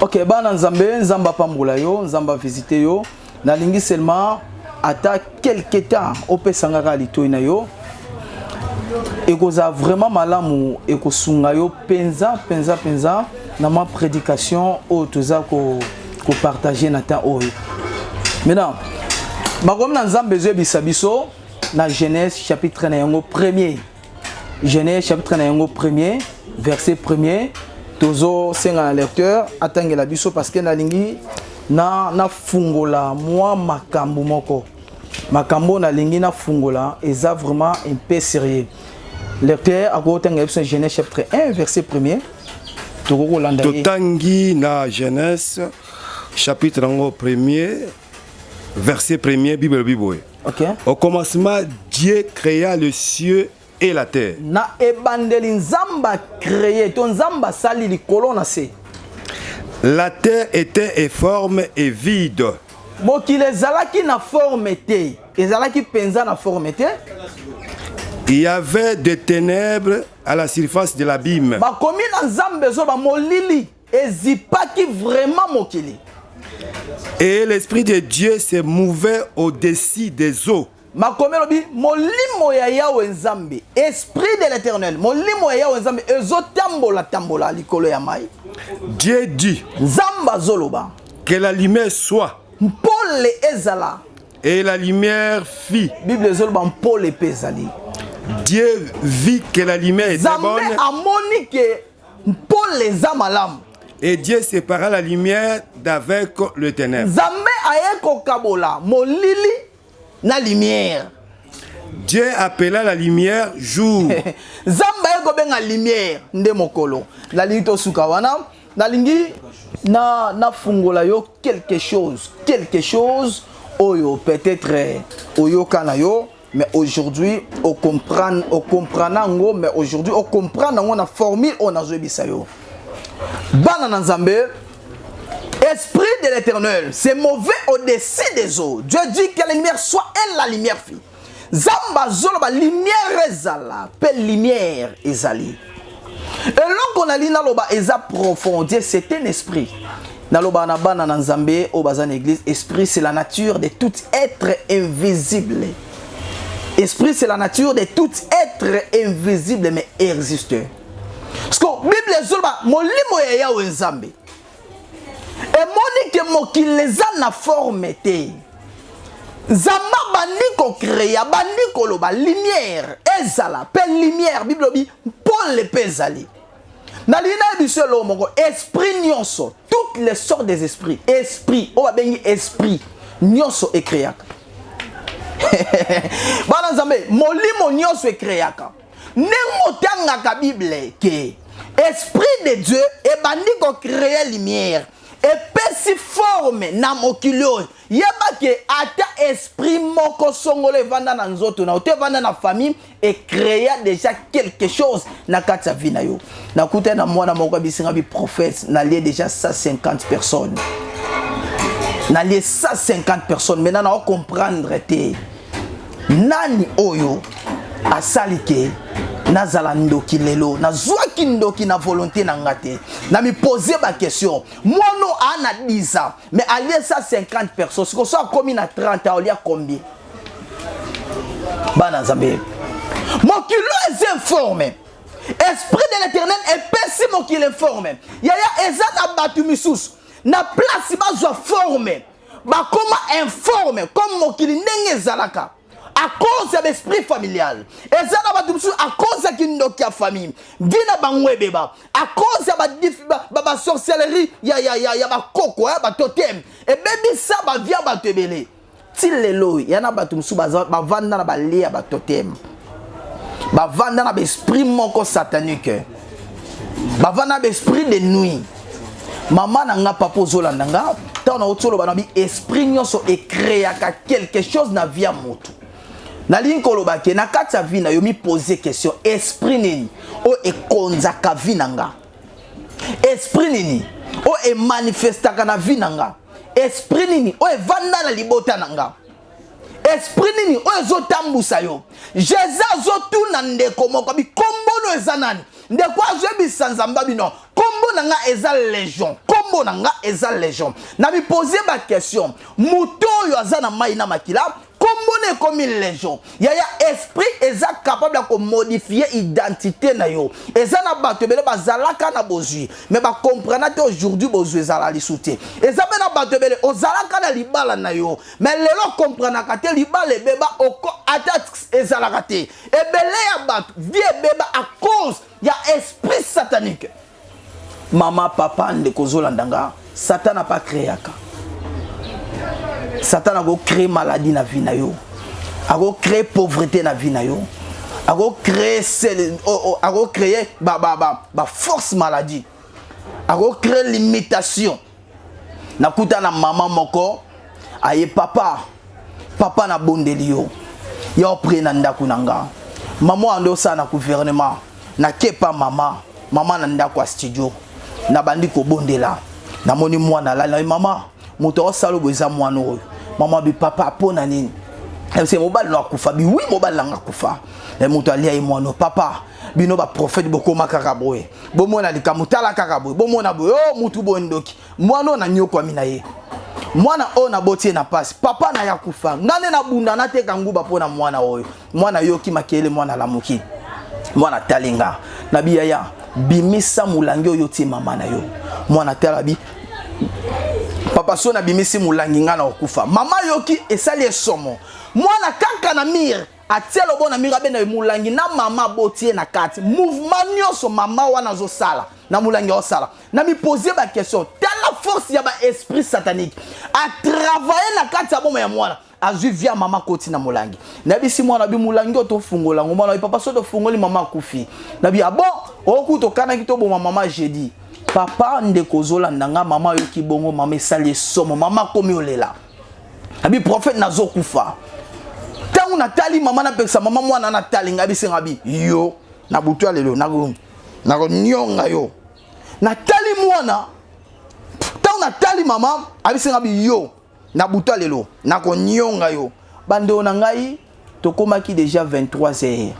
ok bana nzambe nzambe apambola yo nzambe avisite yo nalingi seulement ata quelque temps opesa nga kaka litoi na yo ekozala vraiment malamu ekosunga yo mpenza mpenza mpenza na mwa prédication oyo toza kopartage ko na temps oyo maintenant makomi na nzambe ezoyebisa biso na genèse chapitre na yango premier Genèse chapitre na yango premier verset premier tozosenga na lecteur atangela biso parce que nalingi na nafungola mwa makambo moko makambo oyo nalingi nafungola eza vraiment un peu sérieux lecteur akotangela biso genèse chapitre 1 verset premier tokoki kolanda totangi na genèse chapitre yango premier Verset premier, Bible elobi boye. Okay. Au commencement, Dieu créa le cieux et la terre. Na ebandeli Nzambe créé to Nzambe asali likolo na se. La terre était informe et vide. Mokili ezalaki na forme te, ezalaki penza na forme te. Il y avait des ténèbres à la surface de l'abîme. Bakomi na Nzambe zo ba molili ezipaki vraiment mokili et l'esprit de dieu se mouvait au-dessus des eaux makomi elobi molimo ya yawe nzambe esprit de l'éternel molimo ya yawe nzambe ezotambola tambola likolo ya mai dieu dit nzambe azoloba que la lumière soit mpole ezala et la lumière fit bible ezoloba mpole mpe ezali Dieu vit que la lumière était bonne. Zambe amoni que mpole eza malamu et Dieu sépara la lumière d'avec le ténèbre. Nzambe aye kokabola molili na lumière. Dieu appela la lumière jour. Nzambe aye kobenga lumière nde mokolo. Nalingi tosuka wana nalingi na nafungola yo quelque chose quelque chose oyo peut-être oyoka na yo mais aujourd'hui o comprendre o comprendre yango mais aujourd'hui o comprendre yango na formule oyo nazoyebisa yo bana na nzambe esprit de l'éternel c'est mauvais au-dessus des eaux dieu dit que la lumière soit et la lumière fit nzambe azoloba lumière ezala mpe lumière ezali eloko nalingi naloba eza profondie c'est un esprit nalobaka na bana na nzambe oyo baza na église esprit c'est la nature de tout être invisible esprit c'est la nature de tout être invisible mais existeur siko bible ezoloba molimo ya yawe nzambe emoni ke mokili eza na forme te nzambe abandi kocrea abandi koloba lumière ezala mpe lumière bible obi mpole mpe ezali nalingi naye biso eloo moko esprit nyonso toutes les sortes des esprits esprit oyo babengi esprit nyonso ekreaka bana nzambe molimo nyonso ekreaka ndenge otangaka bible ke esprit de dieu ebandi kocreye lumière epesi forme na mokili oyo yeba ke ata esprit moko songolo evanda na nzoto na yo to evanda na famille ecrea déjà quelque chose na kati ya vie na yo nakutani na mwana moko abisinga biprophète nalie déjà 150 personnes nalie 150 personnes maintenant nao comprendre te nani oyo asali ke nazala ndoki lelo nazwaki ndoki na volonté na nga te na mipose baquestion mwana aa na 10 ans mais alie sa 50 personnes sikoyo so akomi na 30 ans olia combien bana nzambe mokili oyo eza informe esprit de l'éternel epesi mokili informe yaya eza na bato misusu na place bazwa forme bakoma informe comme mokili ndenge ezalaka à cause ya baesprit familial eza na bato mosusu à cause ya kindoki ya famille vi na bango ebeba à cause ya basorcellerie ya, ya, ya, ya bakoko ya batotem ebebisa bavia bato ebele ti lelo ya na bato mosusu bavanda na balie ya batotem bavanda na baesprit moko satanique bavanda na baesprit de nuit mama na nga papa ozolanda nga ntango nauti oloba na bi esprit nyonso ekreaka quelque chose na vie ya motu nalingi koloba ke na kati ya vie na yo mipose question esprit nini oyo ekonzaka vie na nga esprit nini oyo emanifestaka na vie na nga esprit nini oyo evanda na libota na nga esprit nini oyo ezotambusa yo jesus azotuna ndeko moko abi kombono eza nani ndeko azoyebisa nzambe abi no kombo na nga eza legion kombo na nga eza legion na mipose baquestion moto oyo aza na mai na makila kombo na ekomi legion yaya esprit eza capable ya komodifie identité na yo eza na bato ebele bazalaka na bozwi me bakomprana te aujourd'hui bozwi ezala lisu te eza mpe na bato ebele ozalaka na libala na yo mais lelo comprenaka te libala ebeba oko ata ezalaka te ebele ya bato vie ebeba à cause ya esprit satanique mama papa ndeko ozolanda nga satan apa créaka satan akocree maladie na vie na yo akocree pauvreté na vie na yo akocree akocree baforce maladie akocree limitation nakuta na mama moko aye papa papa nabondeli yo ya opre na ndako na nga mama oyo ande osala na gouvernement nakepa mama mama na ndako ya studio nabandi kobondela namoni mwana alali naye mama moto aosala oyo eza mwana oyo mama bi papa mpo na nini eh, mobali na akufa bi wi mobali nanga akufa eh, moto alia ye mwana papa bino baprofete bokoma kaka boye bomona likambo tala kaka boye bomona boye o oh, mutu boye ndoki mwana oyo nanyokwami na ye mwana oyo naboti ye na mpasi papa na ye akufa ngai nde nabunda nateka nguba mpo na mwana oyo mwana yoki makele mwana alamuki mwana tali nga na biyaya bimisa molangi oyo otie mama na yo mwana tala bi papa so nabimisi molangi ngai na kokufa mama yoki esali esomo mwana kaka na mire atia lobo na miro abenda ye molangi na mama aboti ye na kati mouvement nyonso mama wana azosala na molangi aosala na miposie baquestion tala force ya baesprit satanique atravaille na kati ya boma ya mwana azwi via mama koti na molangi nayebisi mwana bi molangi oyo tofungola yango mwana bi papa so tofungoli mama akufi na bi abo ah oku tokanaki toboma mama jeudi papa ndeko ozolanda nga mama ayoki bongo mama esali esomo mama akomi olela abi prophète nazo kufa tangu natali mama napekisa mama mwana natali ngai bisenga bi yo na butu ya lelo nako nako nyonga yo natali mwana tangu natali mama abisenga bi yo na butu ya lelo nako nyonga yo bandeo na ngai tokomaki deja 23 heures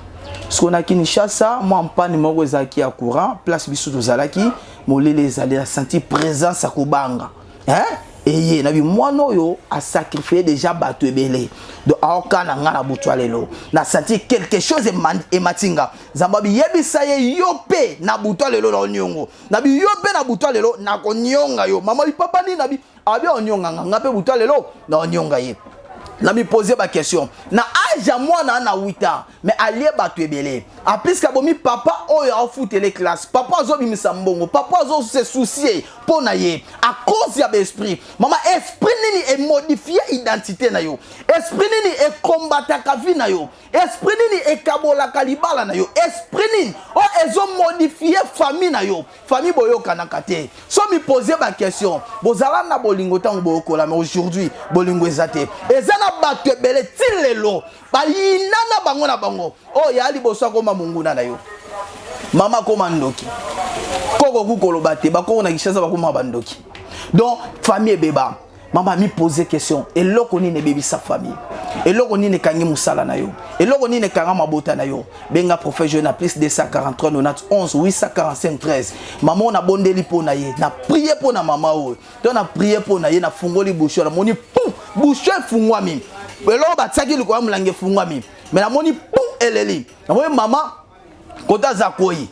siko na kinshasa mwa mpani moko ezalaki ya courant place biso tozalaki molele ezali na senti présence ya kobanga eh? eye na bimwana oyo asacrifie deja bato ebele do aoka na ngai na butu ya lelo na senti quelque chose emati nga nzambe biyebisa ye yo mpe na butu ya lelo na oniongo na biyo mpe na butu ya lelo nakonionga yo mama lipapa nini na bi abi onyonga nga nga mpe buta lelo na onyonga ye namipoze baquestion na age ya mwana na 8 ans me alie bato ebele apiske abomi papa oyo aofutele classe papa azobimisa mbongo papa azose soucie mpo na ye a cause ya baesprit mama esprit nini emodifie identité na yo esprit nini ekombataka vie na yo esprit nini ekabolaka libala na yo esprit nini oyo ezomodifie famille na yo famille boyokanaka te so mipose baquestion bozala na bolingo ntango boyokola mais aujourd'hui bolingo eza te eza na bato ebele ti lelo bayinana bango na bango oyo oh, ya liboso akoma monguna na yo mama akoma ndoki koko kukoloba te bakoko na kishasa bakoma bandoki donc famille ebeba mama ami pose question eloko nini ebebisa famille eloko nini ekangi mosala na yo eloko nini ekanga mabota na yo benga prophète joe na plus 243 91 845 13 mama oyo nabondeli mpo na ye na prie mpo na mama oyo to na prie mpo na ye nafungoli busho namoni pum busho efungwami eloko batiaki likolo ya molangi efungwami me namoni pum eleli namoni mama koto aza koi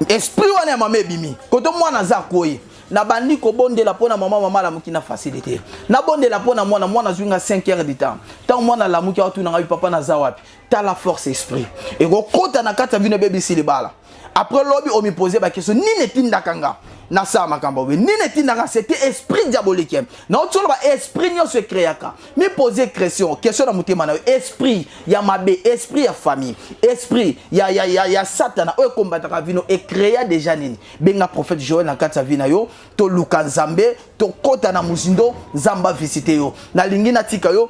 esprit wana ya mama ebimi koto mwana aza koi nabandi kobondela mpo na mama mama alamuki na facilité nabondela mpo na mwana mwana azwi nga 5 heures du temps ntango mwana alamuki aotuna ngai papa naza wapi tala force esprit ekokota na kati ya vino ebebisi libala après lobi omipose bakestion nini etindaka nga nasala makambo boye nini etindaka sete esprit diabolique naotoloba esprit nyonso ekreaka mi poser question question na motema na yo esprit ya mabe esprit ya famille esprit ya, ya, ya, ya satana oyo ekombataka vino ecrea deja nini benga prophète joel na kati ya vi na yo toluka nzambe tokɔta na mozindo nzambe avisite yo nalingi natika yo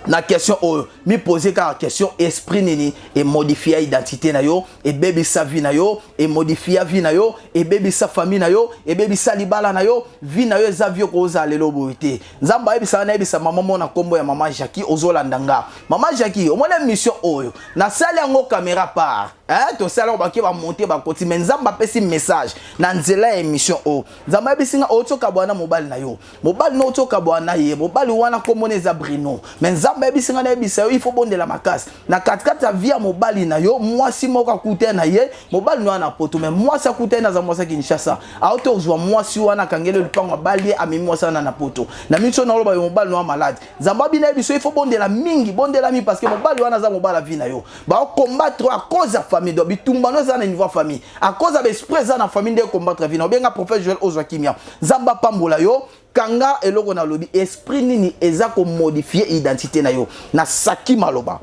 na question oyo mi poser kaka question esprit nini emodifia identité na yo ebebisa vie na yo emodifia vie na yo ebebisa famille na yo ebebisa libala na yo vie na yo eza vie okozala lelo boye te nzambe ayebisa nga nayebisa mama mona nkombo ya mama jacki ozolanda nga mama jacki omona émission oyo nasali yango caméra part eh, tosali yango bake bamonte bakoti me nzambe apesi message na nzela ya émission oyo nzambe ayebisi nga outi okabwana na mobali na yo mobali na outi okabwana na ye mobali wana nkombona eza brino me nzambe ayebisi nga nayebisa yo ifo bondela makasi na katikati ya vi ya mobali na yo mwasi moko akuta na ye mobali noya na poto me mwasi akuta ye naza mwasi ya kinshasa auti kozwa mwasi wana akangeli yo lipango abali ye amemi mwasi wana na poto na miso na oloba yo mobali noya malade nzambe abina ye biso ifo bondela mingi bondela mingi parce que mobali wana aza mobali avi na yo baocombattre a cause ya famille do bitumbano eza na niveau ya famille a cause ya baesprit eza na famille nde combattre avi na obenga prophète joel ozwa kimia nzambe apambola yo Kanga eloko na lobi, esprit nini eza ko modifier identité na yo. Na saki maloba.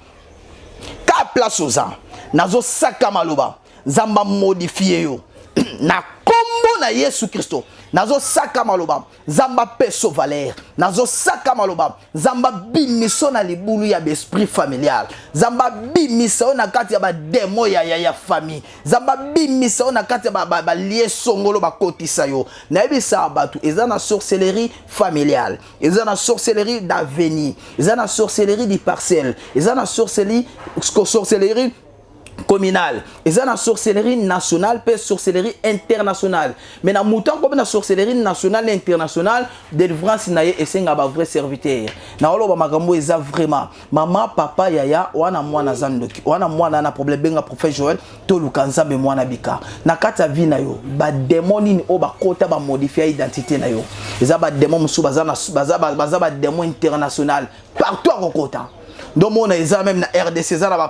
Ka place oza, nazo saka maloba. Zamba modifier yo. na kombo na Yesu Christo. Nazo saka maloba. Zamba peso valeur. Nazo saka maloba. Zamba bimiso na libulu ya esprit familial. Zamba bimiso na kati ya ba demo ya ya ya famille. nzambe abimisa yo na kati ya balie ba, ba songolo bakotisa yo nayebisaka bato eza na sorcellerie familiale eza na sorcellerie d'avenir eza na sorcellerie du parcelle eza na sorcellerie sorcellerie communale eza na sorcellerie nationale mpe sorcellerie internationale mais na moto akomi na sorcellerie nationale na internationale délivrance na ye esenga bavrai serviteur naoloba makambo eza vraiment mama papa yaya wana mwana aza ndoki wana mwana na problème benga prophète joel toluka nzambe mwana bika na kati ya vie na yo bademo nini oyo bakota bamodifia identité na yo eza bademo mosusu baza bademo international partout akokota ndomona eza meme na rdc eza na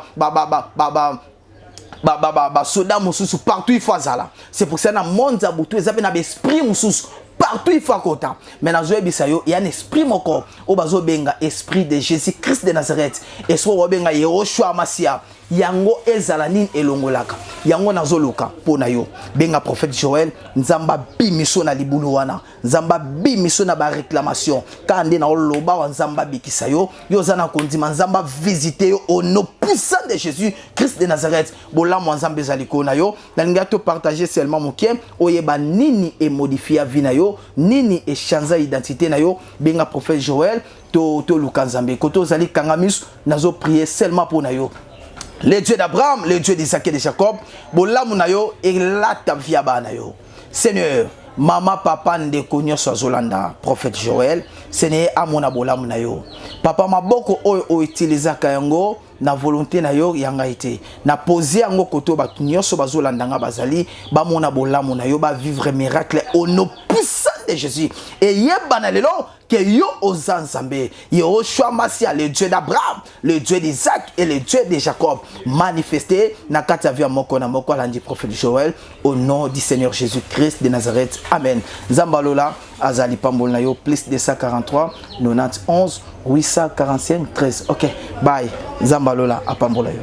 ba ba ba, ba soda mususu partout il faut azala c'est pour ça na monde za butu eza pe na esprit mususu partout il faut akota mais nazo yebisa yo ya na esprit moko oyo bazo benga esprit de Jésus Christ de Nazareth esprit oyo benga Yehoshua Masia yango ezala nini elongolaka yango nazo luka pona yo benga prophète Joël nzamba bimiso na libulu wana nzambe abimisa yo na baréclamation kaka nde na oloba wa nzambe abikisa yo yo oza na kondima nzambe avisite yo au nom puissant de jésus christ de nazareth bolamu ya nzambe eza likolo na yo nalingaki topartage seulement moke oyeba nini emodifia vi na yo nini echanza identité na yo benga prophète joel toluka to nzambe kote ozali kanga miso nazoprie seulement mpo na yo le dieu d'abraham le dieu d'isake de jacob bolamu na yo elata via bana yo Seigneur, mama papa ndeko nyonso azolanda prophète Joël, Seigneur amona bolamu na yo. Papa maboko oyo outilisaka yango na volonté na yo ya ngai te. Na poser yango koto bato nyonso bazolanda nga bazali bamona bolamu na yo ba vivre miracle au nom puissant de Jésus. Et yebana lelo que yo oza nzambe yehoshua masia le dieu d'abraham le dieu d'isaac et le dieu de jacob manifeste na kati ya via moko na moko alandi prophète joel au nom du seigneur jésus christ de nazareth amen nzambe alola azali pamboli na yo plus 243 91 845 13 ok bye nzambe alola apambola yo